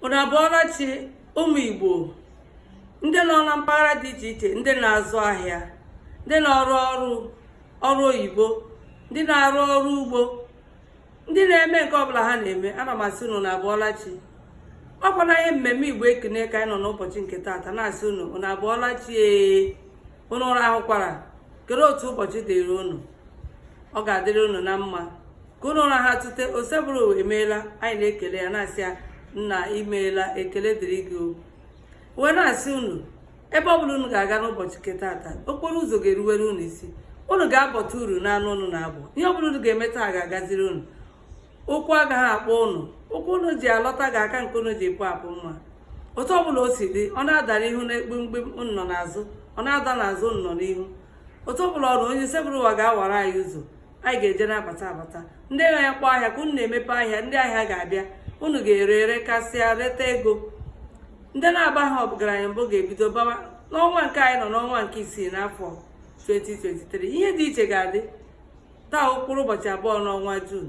unu abụọla chi ụmụ igbo ndị nọ na mpaghara dị iche iche ndị na-azụ ahịa ndị na-arụ ọrụ ọrụ oyibo ndị na-arụ ọrụ ugbo ndị na-eme nke ọbụla ha na-eme ana m asị unu unu abụọla chi ọ kwa n'ihe mmemme igbo ekene ka anyị nọ n'ụbọchị nke taata na-asị unu unu abụọla chi ee unu rahụkwara kere otu ụbọchị dịrị unu ọ ga-adịrị unu na mma ka unu rahụ tete osebụrụ ụwa emeela anyị na-ekele ya na-asị ya nna imeela ekele dịrị gị o wee na-asị unu ebe ọ bụla unu ga-aga n'ụbọchị nke taata okporo ụzọ ga-eruwere unu isi unu ga-abọta uru n'anụ unu na-abọ ihe ọ bụla unu ga-eme taa ga-agaziri unu ụkwụ agaghị akpọ ụnụ ụkwụ ụnụ ji alọta ga-aka nke ụnụ ji pụ apụ mma otu ọbụla o si dị ọ na-adara ihu na gbim gbim ụnụ nọ n'azụ ọ na-ada n'azụ ụnụ nọ n'ihu otu ọbụla ọ ra onye sebụrụ ụwa ga-awara anyị ụzọ anyị ga-eje na-abata abata ndị na-akpọ ahịa ka ụnụ na-emepe ahịa ndị ahịa ga-abịa ụnụ ga-ere rekasịa reta ego ndị na-abaha ọgaranya mbụ ga-ebido bawa n'ọnwa nke anyị nọ n'ọnwa nke isii n'afọ 2023 ihe dị iche ga-adị taa mkpụrụ ụbọchị abụọ n'ọnwa Jun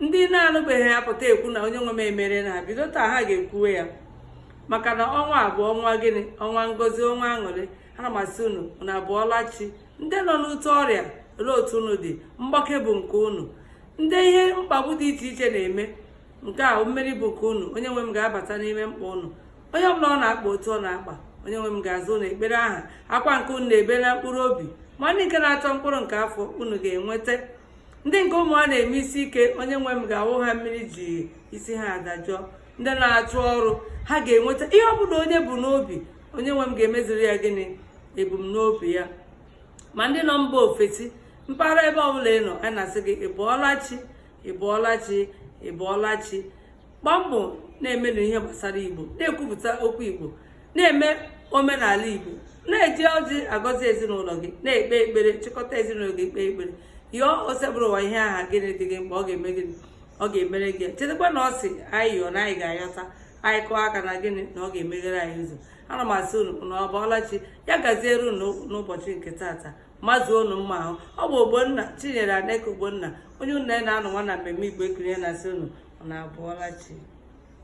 ndị na-anọbeghị apụta ekwu na onye nwe m emerena ha bido taa ha ga-ekwuwe ya maka na ọnwa a bụ ọnwa gịnị ọnwa ngozi ọnwa aṅụrị ana m asị unu unu abụọla chi ndị nọ n'ute ọrịa olee otu unu dị mgbake bụ nke unu ndị ihe mkpagbu dị iche iche na-eme nke a mmeri bụ nke unu onye nwe m ga-abata n'ime mkpa unu onye ọbụla ọ na-akpa otu ọ na-akpa onye nwe m ga-aza unu ekpere aha akwa nke unu na-ebe na mkpụrụ obi ma ndị nke na-achọ mkpụrụ nke afọ unu ga-enweta ndị nke ụmụ ha na-eme isi ike onye nwe m ga-awụ ha mmiri ji isi ha adajụọ ndị na-achọ ọrụ ha ga-enweta ihe ọ bụla onye bu n'obi onye nwe m ga-emeziri ya gịnị ebumnobi ya ma ndị nọ mba ofesi mpaghara ebe ọbụla ị nọ anyị na-asị gị ị bụọla chi ị bụọla chi ị bụọla chi gbaa mbọ na-emenụ ihe gbasara igbo na-ekwupụta okwu igbo na-eme omenala igbo na-eji ọjị agọzi ezinụlọ gị na-ekpe ekpere chịkọta ezinụlọ gị kpee ekpere yọọ osebụrụ ụwa ihe aha gịnị dị gị mkpa ọ ga-eme gịnị ọ ga-emere gị chetakwa na ọ sị anyị yọọ na anyị ga-ayọta anyị kụọ aka na gịnị na ọ ga-emeghere anyị ụzọ ana m asị unu unu abụọla chi ya gaziere unu n'ụbọchị nke taata mazuo unu mma ahụ ọ bụ ogbonna chinyere aneke ogbonna onye ụnụ na ya nọ nwa na mmemme igbo ekene na-asị unu unu abụọla chi